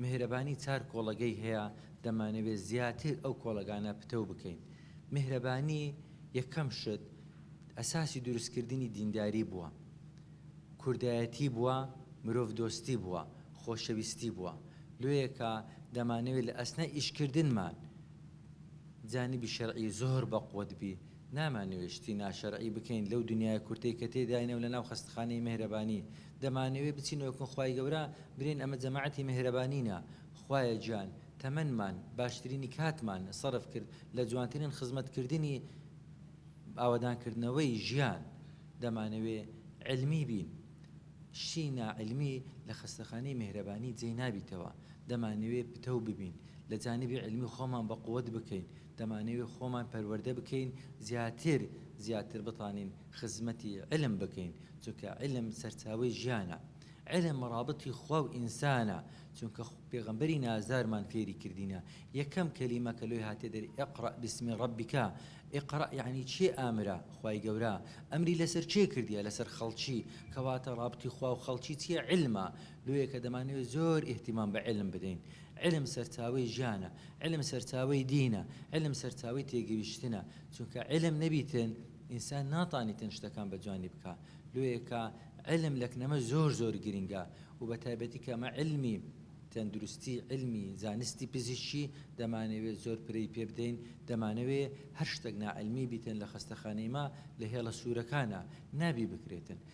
میهرەبانی چار کۆڵەگەی هەیە دەمانەوێت زیاتر ئەو کۆڵەگانە پتەو بکەین میهرەبانی یەکەم شت ئەساسی دروست کردنی دینداری بووە کوردایەتی بووە مرۆڤ دۆستی بووە خۆشەویستی بووە لۆیەکا دەمانەوێت لە ئەسنای ئیشکردنمان جانبی شەرعی زۆر بەقوەت بی نامانەوێت شتی ناشەرعی بکەین لەو دنیایە کورتەی کە تێداینە و لەناو خەستخانەی مێهرەبانی دەمانەوێت بچینەوە کن خوای گەورە برێن ئەمە جەماعەتی مێهرەبانینە خوایە گیان تەمەنمان باشترینی کاتمان سەرف کرد لە جوانترین خزمەت کردنی ئاوەدان کردنەوەی ژیان دەمانەوێت علمی بین شتی نا علمی لە خەستەخانەی مێهرەبانی جێی نابیتەوە دەمانەوێت پتەو ببین لە جانبی علمی خۆمان بە قوت بکەین دەمانەوێت خۆمان پەروەردە بکەین زیاتر زیاتر بتوانین خزمەتی علم بکەین چونکە علم سەرچاوەی ژیانە علم رابطی خوا و ئینسانە چونکە پێغەمبەری نازدارمان فێری کردینە یەکەم کەلیمە کە لۆی هاتێ دەر اقرا بسم ربک اقرا یعنی چێ ئامرا خوای گەورە ئەمری لەسەر چێ کردیە لەسەر خەڵکی کەواتە رابطی خوا و خەڵکی چیە علمە لۆیە کە دەمانەوێت زۆر ئیهتیمام بە عیلم بدەین. عیلم سەرچاوەی ژیانە، عیلم سەرچاوەی دینە، عیلم سەرچاوەی تێگەیشتنە، چونکە عیلم نەبیتن ئینسان ناتانیتن شتەکان بە جوانی بکا. لۆیە کە عیلم لە کنەمە زۆر زۆر گرینگە و بە تایبەتی کە ئەمە عیلمی تەندروستی، عیلمی زانستی پزیشکی دەمانەوێت زۆر پرەی پێ بدەین، دەمانەوێت هەر شتەک ناعیلمی بیتن لە خەستەخانەی ما لە هێڵە سوورەکانا نابی بکرێتن.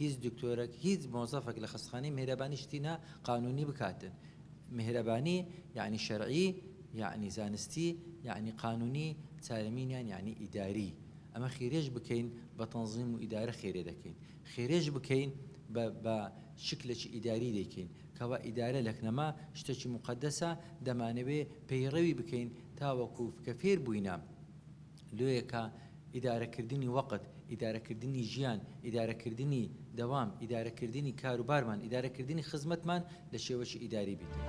هیچ دکتۆرەک هیچ مۆزەفەک لە خەستخانەی میهرەبانی شتی نا قانونی بکاتن میهرەبانی یانی شەرعی یانی زانستی یانی قانونی چارەمینیان یانی ئیداری ئەمە خیرێش بکەین بە تەنزیم و ئیدارە خێرێ دەکەین خێرێش بکەین بە بە شکلێکی ئیداری دەکەین کەوا ئیدارە لەکنەما شتێکی مقدسە دەمانەوێ پەیڕەوی بکەین تاوەکو کە فێر بووینە لۆیەکە، ئیدارەکردنی وەقت، ئیدارەکردنی ژیان، ئیدارەکردنی دەوام، ئیدارەکردنی کاروبارمان، ئیدارەکردنی خزمەتمان لە شێوەکی ئیداری بیکەین.